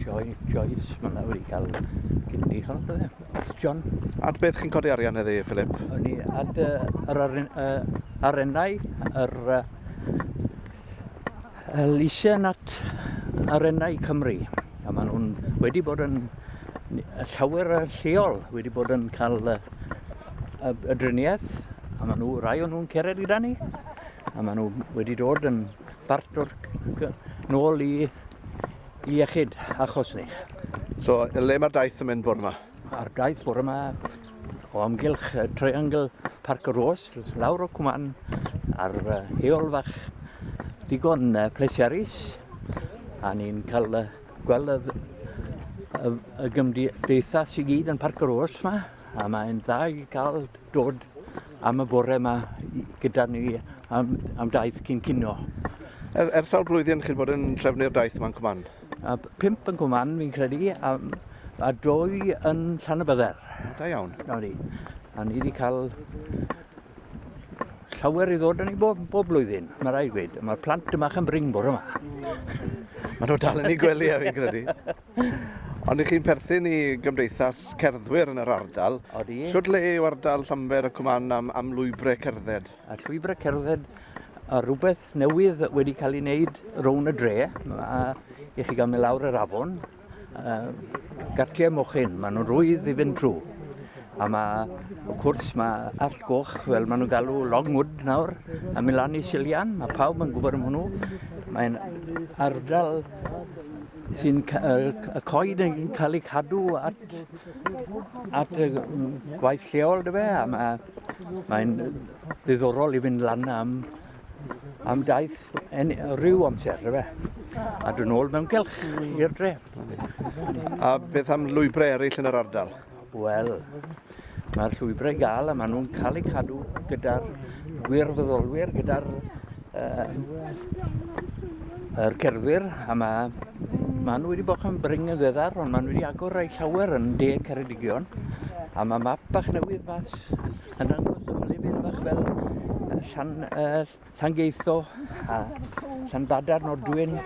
Joy, Joyce, mae'n awr i cael cynni, hwn yn dweud, wrth John. Ad beth chi'n codi arian heddi, Philip? O'n i ad yr arennau, yr Elysian at arennau Cymru. A maen nhw'n wedi bod yn llawer y lleol, wedi bod yn cael y, y, y driniaeth, a maen nhw, rai o'n nhw'n cered gyda ni, a maen nhw wedi dod yn bart o'r nôl i iechyd achos ni. So, le mae'r daith yn mynd bore yma? Mae'r daith bore yma o amgylch uh, Triangle Park Rose, lawr o Cwman, ar uh, heol fach digon uh, plesiarus, a ni'n cael uh, gweld y, y, y gymdeithas i gyd yn Parc Rose yma. A mae'n dda i gael dod am y bore yma gyda ni am, am daith cyn cino. Er, er sawl blwyddyn chi'n bod yn trefnu'r daith yma'n Cwman? A pimp yn Cwman, fi'n credu, a, a dwy yn Llan y Bydder. Da iawn. Da ni. A ni wedi cael llawer i ddod yn ei bob, bob blwyddyn, mae rai gweud. Mae'r plant yma yn bring bore yma. Mae nhw dal yn ei gwely, a fi'n credu. Ond ych chi'n perthyn i gymdeithas cerddwyr yn yr ardal. Odi. Sut le yw ardal Llanber y Cwman am, am lwybrau cerdded? A llwybrau cerdded a rhywbeth newydd wedi cael ei wneud rown y dre, a i chi gael mynd lawr yr afon, uh, gartiau mochyn, maen nhw'n rwydd i fynd trwy. A mae, wrth cwrs, mae all goch, fel maen nhw'n galw Longwood nawr, a mynd lan i Silian, mae pawb yn gwybod am hwnnw. Mae'n ardal sy'n y coed yn cael eu cadw at, at y gwaith lleol, dy fe, a mae'n mae ddiddorol i fynd lan am, am daith en, rhyw amser, dy fe, a dyn ôl mewn gelch i'r dre. A beth am lwybrau eraill yn yr ardal? Wel, mae'r llwybrau i gael a maen nhw'n cael eu cadw gyda'r gwirfoddolwyr, gyda'r uh, er cerddwyr a mae maen nhw wedi bod yn bring yn ddeddar ond maen nhw wedi agor rhai llawer yn de Ceredigion a mae map bach newydd mas yn dangos y lefydd bach fel llan, uh, Llangeitho a Llanbadar, Nordwyn,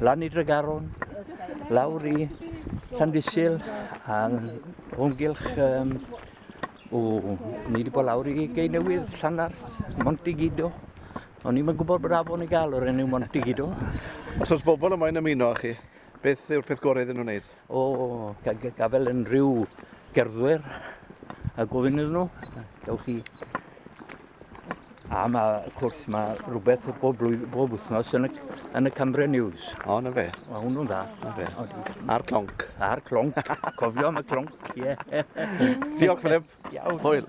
lan i Dregaron, lawr i Llandysil a ymgylch um, o, ni wedi bod lawr i Gei Newydd, Llanarth, Montigido. O'n i'n gwybod bod afon i gael o'r enw Montigido. Os oes bobl yma'n ymuno â chi, beth yw'r peth gorau iddyn nhw'n wneud? O, gafel unrhyw gerddwyr a gofyn iddyn nhw, gewch chi... A mae, wrth gwrs, mae rhywbeth bob, blwydd, bob wythnos yn y, yn y Cymru News. O, na fe. Mae hwnnw'n dda. Na fe. A'r clonc. A'r clonc. Cofio am y clonc, ie. Diolch, Philip. Iawn. Hwyl.